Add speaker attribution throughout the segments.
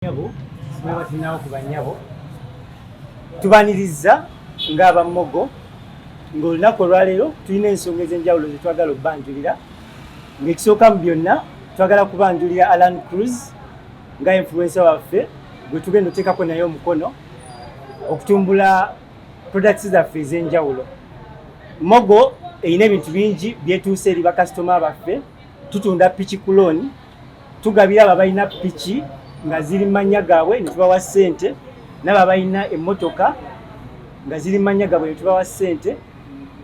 Speaker 1: Tunawo ku banyabo tubaniriza ng'abammogo ng'olunaku olwaleero tulina ensonga ez'enjawulo ze twagala okubanjulira ng'ekisooka mu byonna twagala kubanjulira Alan Cruz nga influencer waffe gwe tugenda oteekako naye omukono okutumbula products zaffe ez'enjawulo mogo erina ebintu bingi byetuuse eri bakasitoma baffe tutunda piki kulooni tugabira abo abalina piki nga ziri mu mannya gaabwe ne tubawa ssente nabo abalina emmotoka nga ziri mu mannya gaabwe ne tubawa ssente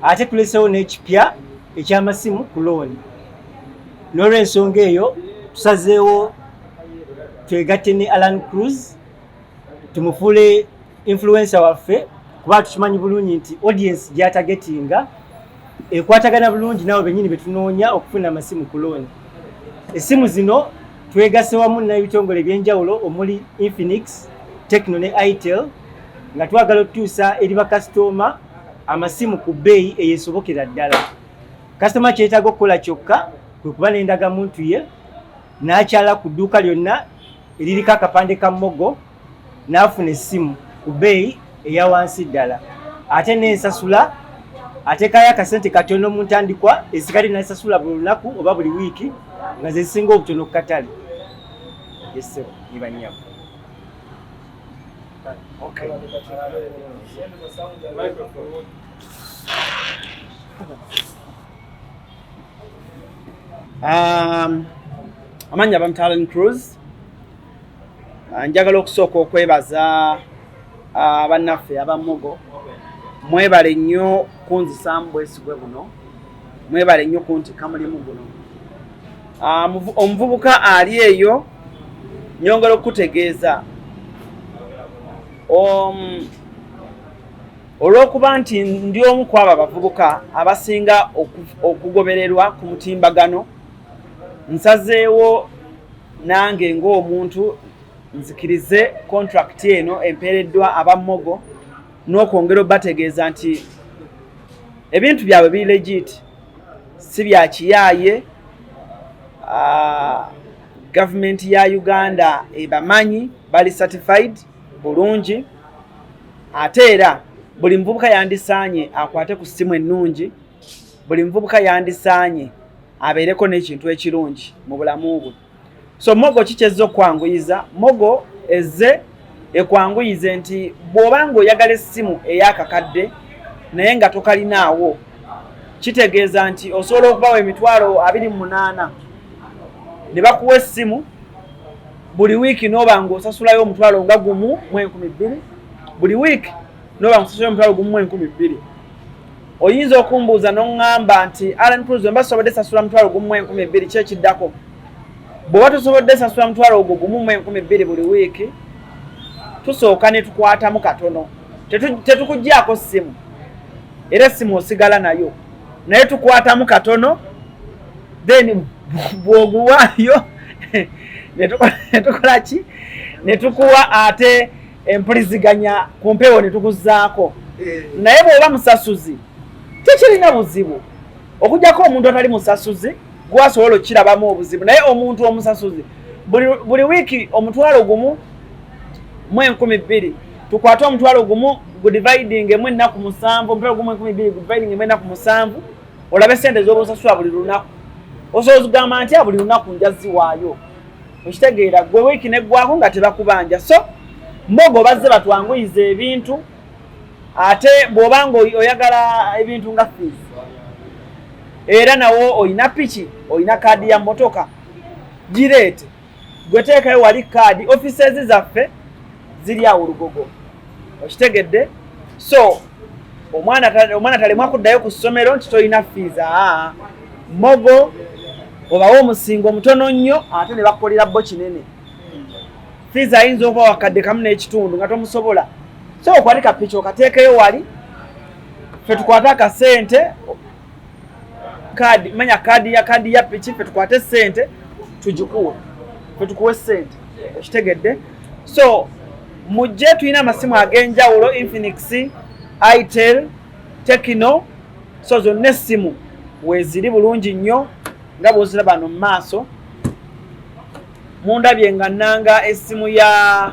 Speaker 1: ate tulesewo n'ekipya eky'amasimu ku looni n'olwensonga eyo tusazeewo twegatte ne alan cruz tumufuule influensa waffe kuba tukimanyi bulungi nti audience gyatagetinga ekwatagana bulungi naawe benyini betunoonya okufuna amasimu ku looni essimu zino twegase wamu n'ebitongole ebyenjawulo omuli infinix techno ne itel nga twagala okutuusa eri bakasitooma amasimu ku bbeeyi eyesobokera ddala kasitoma kyetaaga okukola kyokka kwe kuba n'endagamuntu ye n'akyala ku dduuka lyonna eririko akapande ka mogo n'afuna essimu ku bbeeyi eya wansi ddala ate n'ensasula ateekayo akasente katono mu ntandikwa esikali n'ensasula buli lunaku oba buli wiiki nga ze zisinga obutono ku katale yessebo ne bannyabo Okay. Um,
Speaker 2: amanya bamtalen cruise Ah, njagala okusooka okwebaza ah, bannaffe abamugo mwebale nnyo kunzisaamu bwesigwe buno mwebale nnyo kuntikka mulimu guno ah, omuvubuka ali eyo nyongera okukutegeeza um, olw'okuba nti ndi omu ku abo abavubuka abasinga okugobererwa ku mutimbagano nsazeewo nange ng'omuntu nzikirize kontrakiti eno empeereddwa aba mogo n'okwongera obategeeza nti ebintu byabwe biri legit si bya kiyaaye ah, gavumenti ya uganda ebamanyi bali certified bulungi ate era buli muvubuka yandisaanye akwate ku ssimu ennungi buli muvubuka yandisaanye abeereko n'ekintu ekirungi mu bulamu bwe so mogo kikyezza okwanguyiza mogo ezze ekwanguyize nti bw'oba ng'oyagala essimu ey'akakadde naye nga tokalinaawo kitegeeza nti osobola okubawa emitwalo abiri mu munaana ne bakuwa essimu buli wiiki n'oba ng'osasulayo omutwalo nga gumu mu enkumi bbiri buli wiiki n'oba ng'osasulayo omutwalo gumu mu enkumi bbiri oyinza okumbuuza noŋŋamba nti alan cruz wemba tusobodde sasula mutwalo gumu mu enkumi ebbiri ki ekiddako bweoba tusobodde sasula mutwalo ogwo gumu mu enkumi ebbiri buli wiiki tusooka ne tukwatamu katono tetukugyako ssimu era essimu osigala nayo naye tukwatamu katono then bwoguwaayo netukola ki netukuwa ate empuliziganya ku mpewo ne tukuzaako eh. naye bw'oba musasuzi tekirina buzibu okujjako omuntu atali musasuzi gwasobola okukirabamu obuzibu naye omuntu omusasuzi buli wiiki omutwalo gumu mu enkumi bbiri tukwate omutwalo gumu gudividing emu ennaku musanvu omutwalo gumu enkumi bbiri gudividing emu ennaku musanvu olabe sente ez'obusasula buli lunaku osobola okugamba nti buli lunaku njaziwaayo okitegeera gwe wiiki neggwako nga tebakubanja so mbogo bazze batwanguyiza ebintu ate bw'oba nga oyagala ebintu nga fees era nawo olina piki olina kaadi ya motoka gireete gwe teekayo wali kaadi offices zaffe ziri awo lugogo okitegedde so omwana omwana talemwa kuddayo ku ssomero nti tolina fiiza aa mogo obawo omusingo omutono nnyo ate ne bakukolera bo kinene fiiza ayinza okuba wakadde kamu n'ekitundu nga tomusobola so okwali kapiki okateekeyo wali fe tukwate akasente kaadi manya kaadi ya kaadi ya piki fe tukwate sente tugikuwe fe tukuwe sente okitegedde so mujje tulina amasimu ag'enjawulo infinix itel tekino so zonna essimu weeziri bulungi nnyo nga bwozira bano mu maaso mundabye nga nanga essimu ya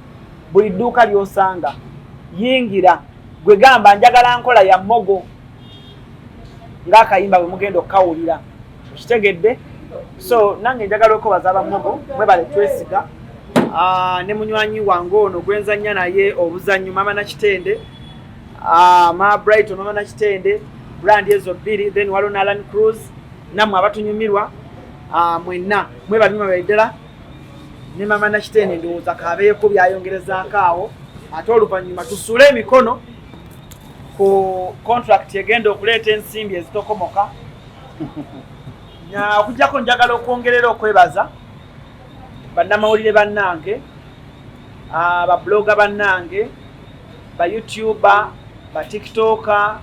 Speaker 2: buli dduuka lyosanga yingira gwe gamba njagala nkola ya mogo ngaakayimba bwe mugenda okukawulira okitegedde so nange njagala okwebaza abamogo mwebale twesiga ah, ne munywanyi wange ono gwenzanya naye obuzannyo mama nakitende ah, ma brighton mama nakitende brand ezo bbiri then waliwo nalan cruise namwe abatunyumirwa ah, mwenna mwebali mwebali ddala ne mama nakitende ndowooza kabeeko byayongerezaako awo ate oluvannyuma tusule emikono ku contract egenda okuleeta ensimbi ezitokomoka okujjako njagala okwongerera okwebaza bannamawulire bannange ah, babuloga bannange ba youtuba ba tiktoka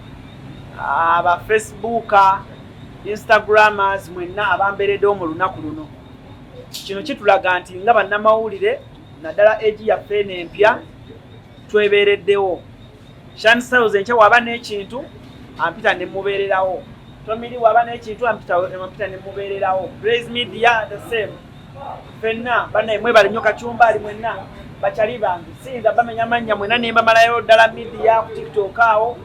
Speaker 2: ah, ba facebooka instagramers mwenna abamberedewo mu lunaku luno kino kitulaga nti nga bannamawulire naddala egi yaffe eno empya twebeereddewo shansiles enkya waba n'ekintu ampita ne mubeererawo tomiri waba n'ekintu ampita ne mubeererawo praise media the same fenna banaye mwebale nnyo kacumba ali mwenna bakyali bange siyinza bamenya mannya mwena ne mbamalayo ddala midiya ku tiktok awo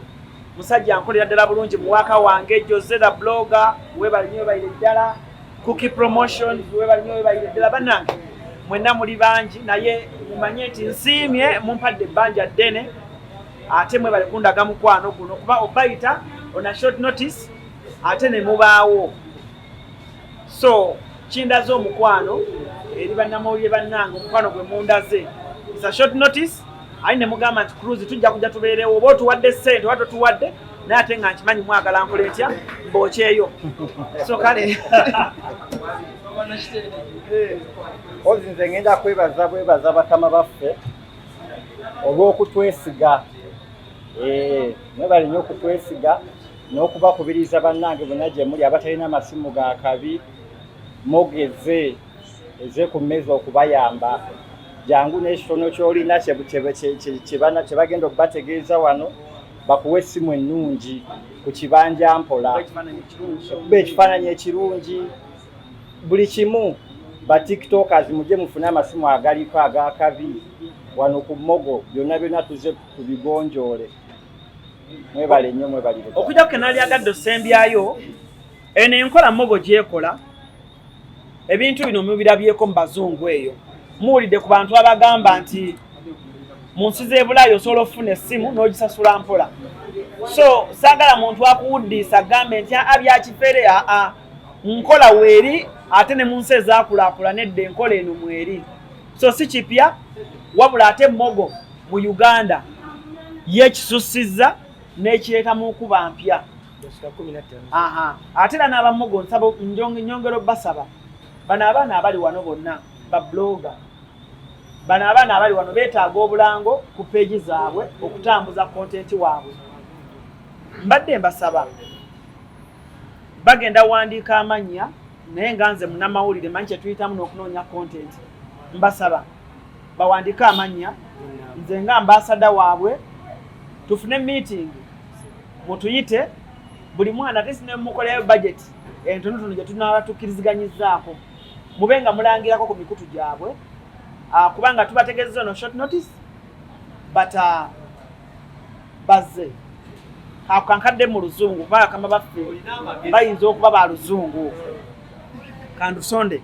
Speaker 2: musajja nkolera ddala bulungi muwaaka wange jose the blogger webale nnyo webalire ddala Cookie Promotions webali nyo webali ddala banange mwenna muli bangi naye mumanye nti nsiimye mumpadde ebbanja ddene ate mwebale kundaga mukwano guno kuba obayita on a short notice ate ne mubaawo so kindaze omukwano eri bannamawulire bannange omukwano gwe mundaze is a short notice ayi ne mugamba nti cruise tujja kujja tubeerewo oba otuwadde ssente oba totuwadde naye ate nga nkimanyi mwagala nkole ntya mbookyeyo so kale
Speaker 3: ozi nze ngenda kwebaza bwebaza batama baffe olw'okutwesiga eh, mwebali nyo okutwesiga n'okubakubiriza bannange bonna gye muli abatalina amasimu ga kabi mogeze eze ku mmeeza okubayamba jangu n'ekitono ky'olina kye bagenda okubategeeza wano bakuwa essimu ennungi ku kibanja mpola okuba ekifaananyi ekirungi buli kimu ba tiktokers mujje mufune amasimu agaliko agakabi wano ku mogo byonna byonna tuze tubigonjoole mwebale nnyo mwebalire okujja ku kenalyagadde
Speaker 2: osembyayo eno enkola mogo gyekola ebintu bino mubirabyeko mu bazungu eyo muwulidde ku bantu abagamba nti mu nsi z'ebulaayi osobola okufuna essimu n'ogisasula mpola so saagala muntu akuwuddiisa agambe nti aa byakifere aa nkola weeri ate ne mu nsi ezaakulaakula nedda enkola eno mweri so si kipya wabula ate emmogo mu uganda yekisussizza n'ekireetamu okuba mpya ate era n'abamugo nsaba nyongero basaba bano abaana abali wano bonna babloga bano abaana abali wano betaaga obulango ku peegi zaabwe okutambuza kontenti waabwe mbadde mbasaba bagenda wandiika amannya naye nga nze munamawulire manyi kyetuyitamu n'okunoonya kontenti mbasaba bawandiike amannya nze nga mbaasada waabwe tufune miitingi mutuyite buli mwana tesi nemukolayo bajeti entonotono gyetunaaba tukkiriziganyizzaako mube nga mulangirako ku mikutu gyabwe ah, kubanga tubategezeza ono short notice but ah, bazze ako kankadde mu luzungu kuba akama baffe bayinza okuba ba luzungu kandusonde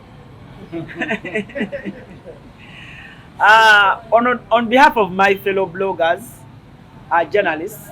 Speaker 2: ah, on, on behalf of my fellow bloggers uh, journalists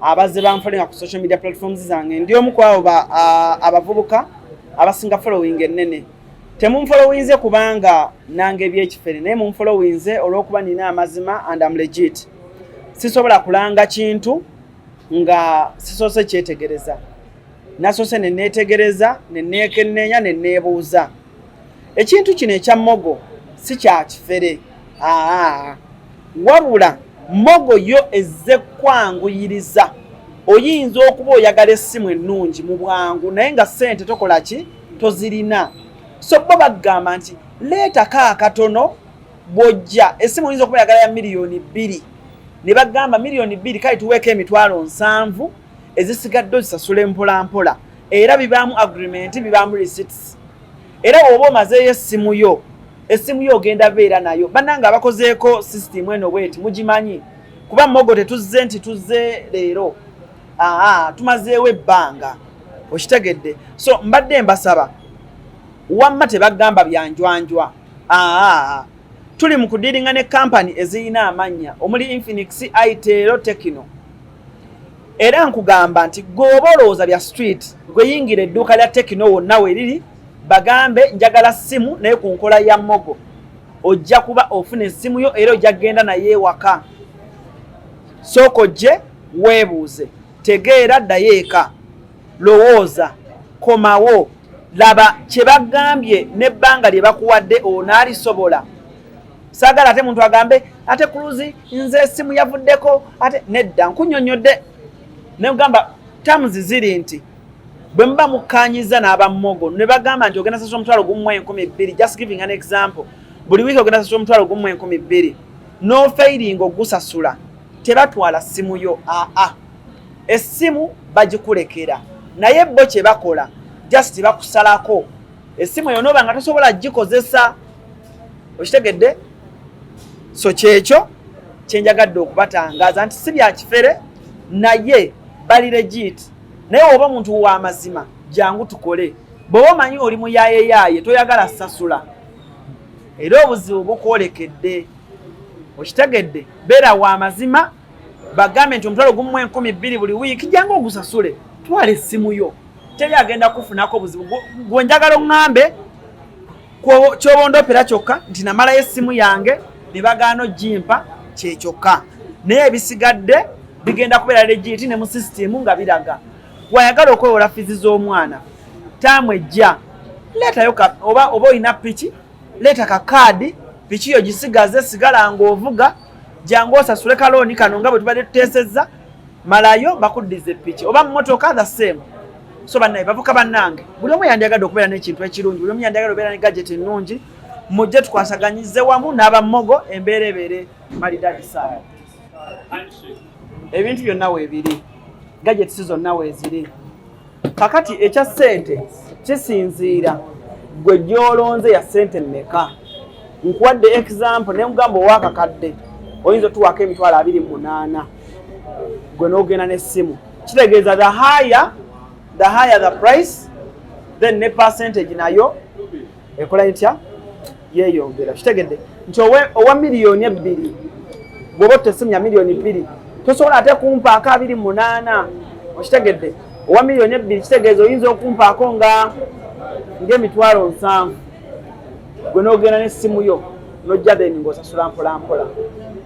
Speaker 2: abazze banfolinga ku social media platforms zange ndi omu ku abo abavubuka abasinga following ennene temunfolowinze kubanga nange ebyekifere naye munfolowinze olwokuba nina amazima and am legit sisobola kulanga kintu nga sisoose kyetegereza nasoose neneetegereza neneekenneenya neneebuuza ekintu kino ekya mogo si kya kifere aa wabula mogo yo ezze kwanguyiriza oyinza okuba oyagala essimu ennungi mu bwangu naye nga ssente tokola ki tozirina so bo bagamba nti leetako akatono bw'ojja essimu oyinza okuba oyagala ya miliyoni bbiri ne bagamba miliyoni bbiri kale tuweeko emitwalo nsanvu ezisigadde ozisasule mpolampola era bibaamu agreement bibaamu receipts era woba omazeeyo essimu yo essimu yo ogenda beera nayo bannanga abakozeeko system eno bweti mugimanyi kuba mogo tetuzze nti tuzze leero aa tumazeewo ebbanga okitegedde so mbadde mbasaba wamma tebagamba byanjwanjwa aa tuli mu kudiringa ne kampani ezirina amannya omuli infinix itero tekino era nkugamba nti gweoba olowooza bya street gweyingira edduuka lya tekino wonna weriri bagambe njagala simu naye ku nkola ya mogo ojja kuba ofuna essimu yo era ojja kugenda naye ewaka sooka ojje weebuuze tegeera ddayo eka lowooza komawo laba kye bagambye n'ebbanga lye bakuwadde onaalisobola saagala ate muntu agambe ate kuluzi nze esimu yavuddeko ate nedda nkunyonyodde negamba terms ziri nti bwe muba mukkanyiza n'abammogo ne bagamba nti ogenda sasula omutwalo gumu enkumi bbiri just giving an example buli wiiki ogenda sasula omutwalo gumu enkumi bbiri n'ofeiringa ogusasula tebatwala ssimu yo aa essimu bagikulekera naye bo kye bakola just bakusalako essimu eyo nooba nga tosobola gikozesa okitegedde so kyekyo kyenjagadde okubatangaaza nti si byakifere naye bali legit naye oba omuntu wamazima jangu tukole bwoba omanyi oli muyayeyaaye toyagala sasula era obuzibu bukwolekedde okitegedde beera wamazima bagambe nti omutwalo gumu enkumi bbiri buli wiiki jangu ogusasule twala essimu yo teri agenda kufunako obuzibu gwenjagala oŋŋambe kyobondopera kyokka nti namalayo essimu yange ne bagaana ojimpa kyekyokka naye ebisigadde bigenda kubeera legiti ne mu sisitimu nga biraga wayagala okwewola fizi z'omwana taamu ejja leetayo oba oba olina piki leeta ka kaadi piki yo gisigaze sigala ng'ovuga jangu osasule kalooni kano nga bwe tubadde tuteesezza malayo bakuddiza eppiki oba mumotoka the same so banaye bavuka bannange buli omu yandyagadde okubeera n'ekintu ekirungi buli omu yandyagadde okubeera ne gadget ennungi mujje tukwasaganyize wamu n'abammogo embeera ebeere malidadi saala ebintu byonna weebiri gadgets zonna weeziri kakati ekya sente kisinziira gwe gyolonze ya sente meka nkuwadde example ne mugamba owakakadde oyinza otuwaako emitwalo abiri munaana gwe n'ogenda n'essimu kitegeeza the higher the higher the price then ne percentage nayo ekola etya yeyongera kitegedde nti owa miliyoni ebbiri bwoba otesimya miliyoni bbiri tosobola ate kumpaako abiri munaana okitegedde owa miliyoni ebbiri kitegeeza oyinza okumpaako nga ngaemitwalo nsanvu gwe nogenda nesimu yo nojja then ngaosasula mpolampola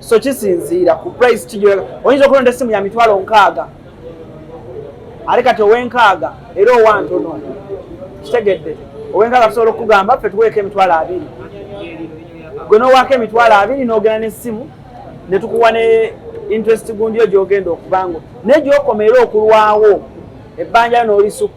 Speaker 2: so kisinziira ku price kijoyinza okulonda esimu ya mitwalo nkaaga ali kati owenkaaga era owantono kitegedde owenkaaga tusobola okukugamba ffe tuweeko emitwalo abiri gwe nowaako emitwalo abiri nogenda nesimu netukuwa ne interest gundiyo gyogenda okubango naye gyokoma era okulwawo ebbanja nolisukka